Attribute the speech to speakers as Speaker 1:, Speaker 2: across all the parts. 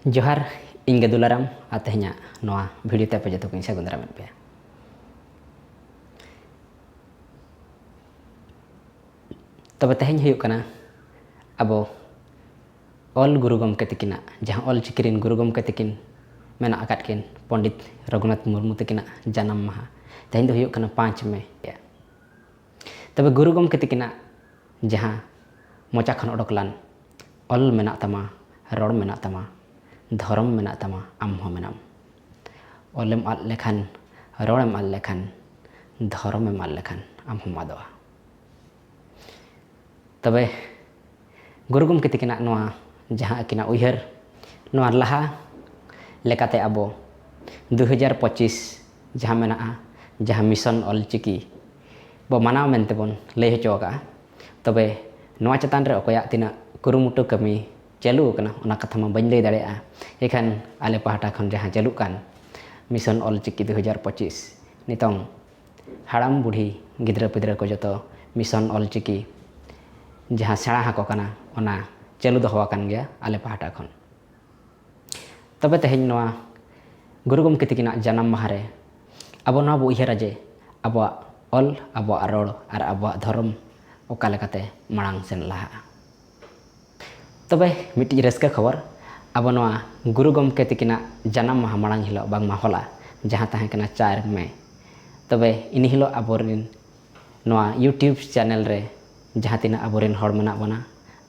Speaker 1: ᱡᱚᱦᱟᱨ ᱤᱧ ᱜᱮ ᱫᱩᱞᱟᱨᱟᱢ ᱟᱨ ᱛᱮᱦᱮᱧᱟᱜ ᱱᱚᱣᱟ ᱵᱷᱤᱰᱤᱭᱳ ᱛᱮ ᱟᱯᱮ ᱡᱚᱛᱚ ᱠᱚᱧ ᱥᱟᱹᱜᱩᱱ ᱫᱟᱨᱟᱢᱮᱫ ᱯᱮᱭᱟ ᱛᱚᱵᱮ ᱛᱮᱦᱮᱧ ᱦᱩᱭᱩᱜ ᱠᱟᱱᱟ ᱟᱵᱚ ᱚᱞ ᱜᱩᱨᱩ ᱜᱚᱢᱠᱮ ᱛᱤᱠᱤᱱᱟᱜ ᱡᱟᱦᱟᱸ ᱚᱞ ᱪᱤᱠᱤ ᱨᱮᱱ ᱜᱩᱨᱩ ᱜᱚᱢᱠᱮ ᱛᱤᱠᱤᱱ ᱢᱮᱱᱟᱜ ᱟᱠᱟᱫ ᱠᱤᱱ ᱯᱚᱸᱰᱤᱛ ᱨᱚᱜᱷᱩᱱᱟᱛᱷ ᱢᱩᱨᱢᱩ ᱛᱤᱠᱤᱱᱟᱜ ᱡᱟᱱᱟᱢ ᱢᱟᱦᱟ ᱛᱮᱦᱮᱧ ᱫᱚ ᱦᱩᱭᱩᱜ ᱠᱟᱱᱟ ᱯᱟᱸᱪ ᱢᱮ ᱛᱚᱵᱮ ᱜᱩᱨᱩ ᱜᱚᱢᱠᱮ ᱛᱤᱠᱤᱱᱟᱜ ᱡᱟᱦᱟᱸ ᱢᱚᱪᱟ ᱠᱷᱚᱱ ᱚᱰᱚᱠ ᱞᱟᱱ ᱚᱞ ᱢᱮᱱᱟᱜ ᱛᱟᱢᱟ ᱨᱚᱲ ᱢᱮᱱᱟᱜ ᱛᱟᱢᱟ ᱫᱷᱚᱨᱚᱢ ᱢᱮᱱᱟᱜ ᱛᱟᱢᱟ ᱟᱢ ᱦᱚᱸ ᱢᱮᱱᱟᱢ ᱚᱞᱮᱢ ᱟᱫ ᱞᱮᱠᱷᱟᱱ ᱨᱚᱲᱮᱢ ᱟᱫ ᱞᱮᱠᱷᱟᱱ ᱫᱷᱚᱨᱚᱢᱮᱢ ᱟᱫ ᱞᱮᱠᱷᱟᱱ ᱟᱢ ᱦᱚᱸᱢ ᱟᱫᱚᱜᱼᱟ ᱛᱚᱵᱮ ᱜᱩᱨᱩ ᱜᱚᱢᱠᱮ ᱛᱤᱠᱤᱱᱟᱜ ᱱᱚᱣᱟ ᱡᱟᱦᱟᱸ ᱟᱹᱠᱤᱱᱟᱜ ᱩᱭᱦᱟᱹᱨ ᱱᱚᱣᱟ ᱞᱟᱦᱟ ᱞᱮᱠᱟᱛᱮ ᱟᱵᱚ ᱫᱩ ᱦᱟᱡᱟᱨ ᱯᱚᱸᱪᱤᱥ ᱡᱟᱦᱟᱸ ᱢᱮᱱᱟᱜᱼᱟ ᱡᱟᱦᱟᱸ ᱢᱤᱥᱚᱱ ᱚᱞᱪᱤᱠᱤ ᱵᱚ ᱢᱟᱱᱟᱣ ᱢᱮᱱᱛᱮ ᱵᱚᱱ ᱞᱟᱹᱭ ᱦᱚᱪᱚ ᱟᱠᱟᱫᱼᱟ ᱛᱚᱵᱮ ᱱᱚᱣᱟ ᱪᱮᱛᱟᱱ ᱨᱮ ᱚᱠᱚᱭᱟᱜ ᱛᱤᱱᱟᱹᱜ ᱠᱩᱨᱩᱢᱩᱴᱩ ᱠᱟᱹᱢᱤ ᱪᱟᱹᱞᱩ ᱟᱠᱟᱱᱟ ᱚᱱᱟ ᱠᱟᱛᱷᱟ ᱢᱟ ᱵᱟᱹᱧ ᱞᱟᱹᱭ ᱫᱟᱲᱮᱭᱟᱜᱼᱟ ᱮᱠᱷᱟᱱ ᱟᱞᱮ ᱯᱟᱦᱴᱟ ᱠᱷᱚᱱ ᱡᱟᱦᱟᱸ ᱪᱟᱹᱞᱩᱜ ᱠᱟᱱ ᱢᱤᱥᱚᱱ ᱚᱞ ᱪᱤᱠᱤ ᱫᱩ ᱦᱟᱡᱟᱨ ᱯᱚᱸᱪᱤᱥ ᱱᱤᱛᱚᱝ ᱦᱟᱲᱟᱢ ᱵᱩᱰᱷᱤ ᱜᱤᱫᱽᱨᱟᱹ ᱯᱤᱫᱽᱨᱟᱹ ᱠᱚ ᱡᱚᱛᱚ ᱢᱤᱥᱚᱱ ᱚᱞ ᱪᱤᱠᱤ ᱡᱟᱦᱟᱸ ᱥᱮᱬᱟ ᱟᱠᱚ ᱠᱟᱱᱟ ᱚᱱᱟ ᱪᱟᱹᱞᱩ ᱫᱚᱦᱚ ᱟᱠᱟᱱ ᱜᱮᱭᱟ ᱟᱞᱮ ᱯᱟᱦᱴᱟ ᱠᱷᱚᱱ ᱛᱚᱵᱮ ᱛᱮᱦᱮᱧ ᱱᱚᱣᱟ ᱜᱩᱨᱩ ᱜᱚᱢᱠᱮ ᱛᱟᱹᱠᱤᱱᱟᱜ ᱡᱟᱱᱟᱢ ᱢᱟᱦᱟ ᱨᱮ ᱟᱵᱚ ᱱᱚᱣᱟ ᱵᱚ ᱩᱭᱦᱟᱹᱨᱟ ᱡᱮ ᱟᱵᱚᱣᱟᱜ ᱚᱞ ᱟᱵᱚᱣᱟᱜ ᱨᱚᱲ ᱟᱨ ᱟᱵᱚᱣᱟᱜ ᱫᱷᱚᱨᱚᱢ ᱚᱠᱟ ᱞᱮᱠᱟᱛᱮ ᱢᱟᱲᱟᱝ ᱥᱮᱱ ᱞᱟᱦᱟᱜᱼᱟ ᱛᱚᱵᱮ ᱢᱤᱫᱴᱤᱡ ᱨᱟᱹᱥᱠᱟᱹ ᱠᱷᱚᱵᱚᱨ ᱟᱵᱚ ᱱᱚᱣᱟ ᱜᱩᱨᱩ ᱜᱚᱢᱠᱮ ᱛᱟᱹᱠᱤᱱᱟᱜ ᱡᱟᱱᱟᱢ ᱢᱟᱦᱟ ᱢᱟᱲᱟᱝ ᱦᱤᱞᱳᱜ ᱵᱟᱝᱢᱟ ᱦᱚᱞᱟ ᱡᱟᱦᱟᱸ ᱛᱟᱦᱮᱸ ᱠᱟᱱᱟ ᱪᱟᱨ ᱢᱮ ᱛᱚᱵᱮ ᱤᱱ ᱦᱤᱞᱳᱜ ᱟᱵᱚᱨᱮᱱ ᱱᱚᱣᱟ ᱤᱭᱩᱴᱤᱭᱩᱵᱽ ᱪᱮᱱᱮᱞ ᱨᱮ ᱡᱟᱦᱟᱸ ᱛᱤᱱᱟᱹᱜ ᱟᱵᱚᱨᱮᱱ ᱦᱚᱲ ᱢᱮᱱᱟᱜ ᱵᱚᱱᱟ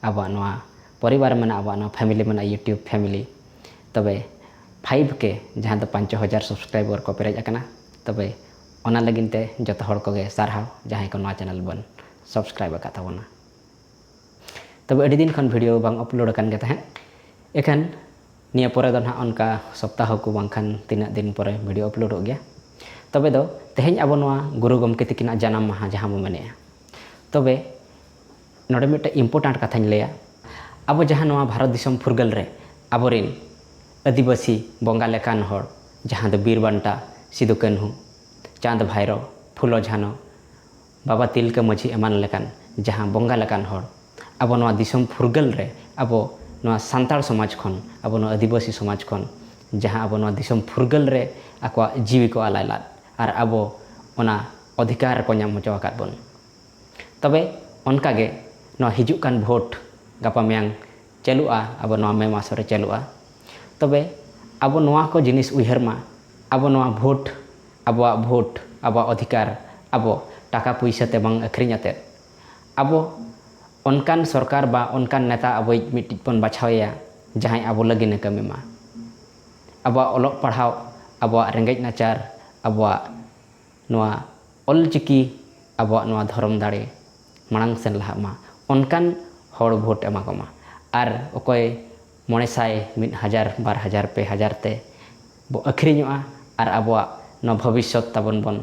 Speaker 1: ᱟᱵᱚᱣᱟᱜ ᱱᱚᱣᱟ ᱯᱚᱨᱤᱵᱟᱨ ᱢᱮᱱᱟᱜᱼᱟ ᱟᱵᱚᱣᱟᱜ ᱱᱚᱣᱟ ᱯᱷᱮᱢᱮᱞᱤ ᱢᱮᱱᱟᱜᱼᱟ ᱤᱭᱩᱴᱩᱵᱽ ᱯᱷᱮᱢᱮᱞᱤ ᱛᱚᱵᱮ ᱯᱷᱟᱭᱤᱵᱷ ᱠᱮ ᱡᱟᱦᱟᱸ ᱫᱚ ᱯᱟᱸᱪ ᱦᱟᱡᱟᱨ ᱥᱟᱵᱥᱠᱨᱟᱭᱵᱟᱨ ᱠᱚ ᱯᱮᱨᱮᱡ ᱟᱠᱟᱱᱟ ᱛᱚᱵᱮ ᱚᱱᱟ ᱞᱟᱹᱜᱤᱫ ᱛᱮ ᱡᱚᱛᱚ ᱦᱚᱲ ᱠᱚᱜᱮ ᱥᱟᱨᱦᱟᱣ ᱡᱟᱦᱟᱸᱭ ᱠᱚ ᱱᱚᱣᱟ ᱪᱮᱱᱮᱞ ᱵᱚᱱ ᱥᱟᱵᱥᱠᱨᱟᱭᱤᱵ ᱟᱠᱟᱫ ᱛᱟᱵᱚᱱᱟ ᱛᱚᱵᱮ ᱟᱹᱰᱤ ᱫᱤᱱ ᱠᱷᱚᱱ ᱵᱷᱤᱰᱤᱭᱳ ᱵᱟᱝ ᱟᱯᱞᱳᱰ ᱟᱠᱟᱱ ᱜᱮ ᱛᱟᱦᱮᱸᱫ ᱮᱠᱷᱟᱱ ᱱᱤᱭᱟᱹ ᱯᱚᱨᱮ ᱫᱚ ᱱᱟᱦᱟᱜ ᱚᱱᱠᱟ ᱥᱚᱯᱛᱟᱦᱚ ᱠᱚ ᱵᱟᱝᱠᱷᱟᱱ ᱛᱤᱱᱟᱹᱜ ᱫᱤᱱ ᱯᱚᱨᱮ ᱵᱷᱤᱰᱤᱭᱳ ᱟᱯᱞᱳᱰᱚᱜ ᱜᱮᱭᱟ ᱛᱚᱵᱮ ᱫᱚ ᱛᱮᱦᱮᱧ ᱟᱵᱚ ᱱᱚᱣᱟ ᱜᱩᱨᱩ ᱜᱚᱢᱠᱮ ᱛᱤᱠᱤᱱᱟᱜ ᱡᱟᱱᱟᱢ ᱢᱟᱦᱟ ᱡᱟᱦᱟᱸ ᱵᱚ ᱢᱮᱱᱮᱜᱼᱟ ᱛᱚᱵᱮ ᱱᱚᱰᱮ ᱢᱤᱫᱴᱮᱱ ᱤᱢᱯᱚᱨᱴᱟᱱᱴ ᱠᱟᱛᱷᱟᱧ ᱞᱟᱹᱭᱟ ᱟᱵᱚ ᱡᱟᱦᱟᱸ ᱱᱚᱣᱟ ᱵᱷᱟᱨᱚᱛ ᱫᱤᱥᱚᱢ ᱯᱷᱩᱨᱜᱟᱹᱞ ᱨᱮ ᱟᱵᱚᱨᱮᱱ ᱟᱹᱫᱤᱵᱟᱹᱥᱤ ᱵᱚᱸᱜᱟ ᱞᱮᱠᱟᱱ ᱦᱚᱲ ᱡᱟᱦᱟᱸ ᱫᱚ ᱵᱤᱨ ᱵᱟᱱᱴᱟ ᱥᱤᱫᱩ ᱠᱟᱹᱱᱦᱩ ᱪᱟᱸᱫᱽ ᱵᱷᱟᱭᱨᱚ ᱯᱷᱩᱞᱚ ᱡᱷᱟᱱᱚ ᱵᱟᱵᱟ ᱛᱤᱞᱠᱟᱹ ᱢᱟᱹᱡᱷᱤ ᱮᱢᱟᱱ ᱞᱮᱠᱟᱱ ᱡᱟᱦᱟᱸ ᱵᱚᱸᱜᱟ ᱞᱮᱠᱟᱱ ᱦᱚᱲ ᱟᱵᱚ ᱱᱚᱣᱟ ᱫᱤᱥᱚᱢ ᱯᱷᱩᱨᱜᱟᱹᱞ ᱨᱮ ᱟᱵᱚ ᱱᱚᱣᱟ ᱥᱟᱱᱛᱟᱲ ᱥᱚᱢᱟᱡᱽ ᱠᱷᱚᱱ ᱟᱵᱚ ᱱᱚᱣᱟ ᱟᱹᱫᱤᱵᱟᱹᱥᱤ ᱥᱚᱢᱟᱡᱽ ᱠᱷᱚᱱ ᱡᱟᱦᱟᱸ ᱟᱵᱚ ᱱᱚᱣᱟ ᱫᱤᱥᱚᱢ ᱯᱷᱩᱨᱜᱟᱹᱞ ᱨᱮ ᱟᱠᱚᱣᱟᱜ ᱡᱤᱣᱤ ᱠᱚ ᱟᱞᱟᱭ ᱞᱟᱫ ᱟᱨ ᱟᱵᱚ ᱚᱱᱟ ᱚᱫᱷᱤᱠᱟᱨ ᱠᱚ ᱧᱟᱢ ᱦᱚᱪᱚ ᱟᱠᱟᱫ ᱵᱚᱱ ᱛᱚᱵᱮ ᱚᱱᱠᱟ ᱜᱮ ᱱᱚᱣᱟ ᱦᱤᱡᱩᱜ ᱠᱟᱱ ᱵᱷᱳᱴ ᱜᱟᱯᱟ ᱢᱮᱭᱟᱝ ᱪᱟᱹᱞᱩᱜᱼᱟ ᱟᱵᱚ ᱱᱚᱣᱟ ᱢᱮ ᱢᱟᱥ ᱨᱮ ᱪᱟᱹᱞᱩᱜᱼᱟ ᱛᱚᱵᱮ ᱟᱵᱚ ᱱᱚᱣᱟ ᱠᱚ ᱡᱤᱱᱤᱥ ᱩᱭᱦᱟᱹᱨ ᱢᱟ ᱟᱵᱚ ᱱᱚᱣᱟ ᱵᱷᱳᱴ ᱟᱵᱚᱣᱟᱜ ᱵᱷᱳᱴ ᱟᱵᱚᱣᱟᱜ ᱚᱫᱷᱤᱠᱟᱨ ᱟᱵᱚ ᱴᱟᱠᱟ ᱯᱩᱭᱥᱟᱹ ᱛᱮ ᱵᱟᱝ ᱟᱹᱠᱷᱨᱤᱧ ᱠᱟᱛᱮᱫ ᱟᱵᱚ ᱚᱱᱠᱟᱱ ᱥᱚᱨᱠᱟᱨ ᱵᱟ ᱚᱱᱠᱟᱱ ᱱᱮᱛᱟ ᱟᱵᱚᱭᱤᱡ ᱢᱤᱫᱴᱤᱡ ᱵᱚᱱ ᱵᱟᱪᱷᱟᱣᱮᱭᱟ ᱡᱟᱦᱟᱸᱭ ᱟᱵᱚ ᱞᱟᱹᱜᱤᱫ ᱮ ᱠᱟᱹᱢᱤ ᱢᱟ ᱟᱵᱚᱣᱟᱜ ᱚᱞᱚᱜ ᱯᱟᱲᱦᱟᱣ ᱟᱵᱚᱣᱟᱜ ᱨᱮᱸᱜᱮᱡ ᱱᱟᱪᱟᱨ ᱟᱵᱚᱣᱟᱜ ᱱᱚᱣᱟ ᱚᱞ ᱪᱤᱠᱤ ᱟᱵᱚᱣᱟᱜ ᱱᱚᱣᱟ ᱫᱷᱚᱨᱚᱢ ᱫᱟᱲᱮ ᱢᱟᱲᱟᱝ ᱥᱮᱱ ᱞᱟᱦᱟᱜ ᱢᱟ ᱚᱱᱠᱟᱱ ᱦᱚᱲ ᱵᱷᱳᱴ ᱮᱢᱟ ᱠᱚᱢᱟ ᱟᱨ ᱚᱠᱚᱭ ᱢᱚᱬᱮ ᱥᱟᱭ ᱢᱤᱫ ᱦᱟᱡᱟᱨ ᱵᱟᱨ ᱦᱟᱡᱟᱨ ᱯᱮ ᱦᱟᱡᱟᱨ ᱛᱮ ᱵᱚ ᱟᱹᱠᱷᱨᱤᱧᱚᱜᱼᱟ ᱟᱨ ᱟᱵᱚᱣᱟᱜ ᱱᱚᱣᱟ ᱵᱷᱚᱵᱤᱥᱥᱚᱛ ᱛᱟᱵᱚᱱ ᱵᱚᱱ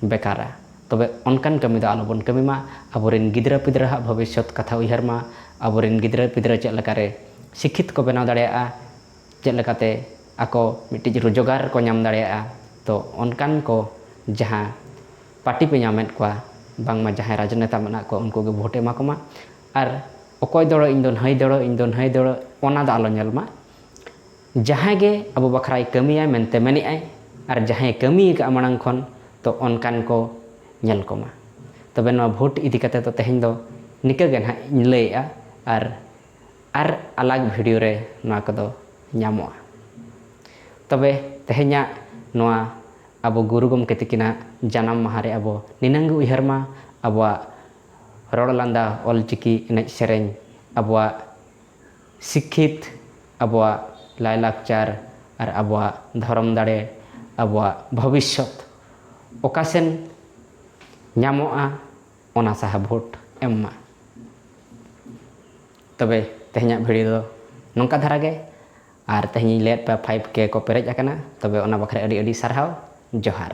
Speaker 1: ᱵᱮᱠᱟᱨᱟ ᱛᱚᱵᱮ ᱚᱱᱠᱟᱱ ᱠᱟᱹᱢᱤ ᱫᱚ ᱟᱞᱚ ᱵᱚᱱ ᱠᱟᱹᱢᱤ ᱢᱟ ᱟᱵᱚ ᱨᱮᱱ ᱜᱤᱫᱽᱨᱟᱹ ᱯᱤᱫᱽᱨᱟᱹ ᱦᱟᱸᱜ ᱵᱷᱚᱵᱤᱥᱥᱚᱛ ᱠᱟᱛᱷᱟ ᱩᱭᱦᱟᱹᱨ ᱢᱟ ᱟᱵᱚ ᱨᱮᱱ ᱜᱤᱫᱽᱨᱟᱹ ᱯᱤᱫᱽᱨᱟᱹ ᱪᱮᱫ ᱞᱮᱠᱟᱨᱮ ᱥᱤᱠᱠᱷᱤᱛ ᱠᱚ ᱵᱮᱱᱟᱣ ᱫᱟᱲᱮᱭᱟᱜᱼᱟ ᱪᱮᱫ ᱞᱮᱠᱟᱛᱮ ᱟᱠᱚ ᱢᱤᱫᱴᱤᱡ ᱨᱳᱡᱽᱜᱟᱨ ᱠᱚ ᱧᱟᱢ ᱫᱟᱲᱮᱭᱟᱜᱼᱟ ᱛᱚ ᱚᱱᱠᱟᱱ ᱠᱚ ᱡᱟᱦᱟᱸ ᱯᱟᱴᱤ ᱯᱮ ᱧᱟᱢᱮᱫ ᱠᱚᱣᱟ ᱵᱟᱝᱢᱟ ᱡᱟᱦᱟᱸᱭ ᱨᱟᱡᱽᱱᱮᱛᱟ ᱢᱮᱱᱟᱜ ᱠᱚ ᱩᱱᱠᱩ ᱜᱮ ᱵᱷᱳᱴ ᱮᱢᱟ ᱠᱚᱢᱟ ᱟᱨ ᱚᱠᱚᱭ ᱫᱚᱲᱚ ᱤᱧ ᱫᱚ ᱱᱷᱟᱹᱭ ᱫᱚᱲᱚ ᱤᱧ ᱫᱚ ᱱᱷᱟᱹᱭ ᱫᱚᱲᱚ ᱚᱱᱟ ᱫᱚ ᱟᱞᱚ ᱧᱮᱞ ᱢᱟ ᱡᱟᱦᱟᱸᱭ ᱜᱮ ᱟᱵᱚ ᱵᱟᱠᱷᱨᱟᱭ ᱠᱟᱹᱢᱤᱭᱟᱭ ᱢᱮᱱᱛᱮ ᱢᱮᱱᱮᱫ ᱟᱭ ᱟᱨ ᱡᱟᱦᱟᱸᱭ ᱠᱟᱹᱢᱤ ᱟᱠᱟᱫᱼᱟ ᱢᱟᱲᱟᱝ ᱠᱷᱚᱱ ᱛᱚ ᱚᱱᱠᱟᱱ ᱠᱚ ᱧᱮᱞ ᱠᱚᱢᱟ ᱛᱚᱵᱮ ᱱᱚᱣᱟ ᱵᱷᱳᱴ ᱤᱫᱤ ᱠᱟᱛᱮᱫ ᱫᱚ ᱛᱮᱦᱮᱧ ᱫᱚ ᱱᱤᱠᱟᱹ ᱜᱮ ᱱᱟᱦᱟᱜ ᱤᱧ ᱞᱟᱹᱭᱮᱫᱼᱟ ᱟᱨ ᱟᱨ ᱟᱞᱟᱜᱽ ᱵᱷᱤᱰᱤᱭᱳ ᱨᱮ ᱱᱚᱣᱟ ᱠᱚᱫᱚ ᱧᱟᱢᱚᱜᱼᱟ᱾ ᱛᱚᱵᱮ ᱛᱮᱦᱮᱧᱟᱜ ᱱᱚᱣᱟ ᱟᱵᱚ ᱜᱩᱨᱩ ᱜᱚᱢᱠᱮ ᱛᱤᱠᱤᱱᱟᱜ ᱡᱟᱱᱟᱢ ᱢᱟᱦᱟᱸ ᱨᱮ ᱟᱵᱚ ᱱᱤᱱᱟᱹᱝ ᱜᱮ ᱩᱭᱦᱟᱹᱨ ᱢᱟ ᱟᱵᱚᱣᱟᱜ ᱨᱚᱲ ᱞᱟᱸᱫᱟ, ᱚᱞ ᱪᱤᱠᱤ, ᱮᱱᱮᱡ ᱥᱮᱨᱮᱧ, ᱟᱵᱚᱣᱟᱜ ᱥᱤᱠᱠᱷᱤᱛ, ᱟᱵᱚᱣᱟᱜ ᱞᱟᱭ ᱞᱟᱠᱪᱟᱨ ᱟᱨ ᱟᱵᱚᱣᱟᱜ ᱫᱷᱚᱨᱚᱢ ᱫᱟᱲᱮ, ᱟᱵᱚᱣᱟᱜ ᱵᱷᱚᱵᱤᱥᱥᱚᱛ ᱚᱠᱟ ᱥᱮᱱ ᱧᱟᱢᱚᱜᱼᱟ? ᱚᱱᱟ ᱥᱟᱦᱟ ᱵᱷᱳᱴ ᱮᱢ ᱢᱟ ᱛᱚᱵᱮ ᱛᱮᱦᱮᱧᱟᱜ ᱵᱷᱤᱰᱤᱭᱳ ᱫᱚ ᱱᱚᱝᱠᱟ ᱫᱷᱟᱨᱟ ᱜᱮ ᱟᱨ ᱛᱮᱦᱮᱧᱤᱧ ᱞᱟᱹᱭᱟᱫ ᱯᱮᱭᱟ ᱯᱷᱟᱭᱤᱵᱷ ᱠᱮ ᱠᱚ ᱯᱮᱨᱮᱡ ᱟᱠᱟᱱᱟ ᱛᱚᱵᱮ ᱚᱱᱟ ᱵᱟᱠᱷᱨᱟ ᱟᱹᱰᱤ ᱟᱹᱰᱤ ᱥᱟᱨᱦᱟᱣ ᱡᱚᱦᱟᱨ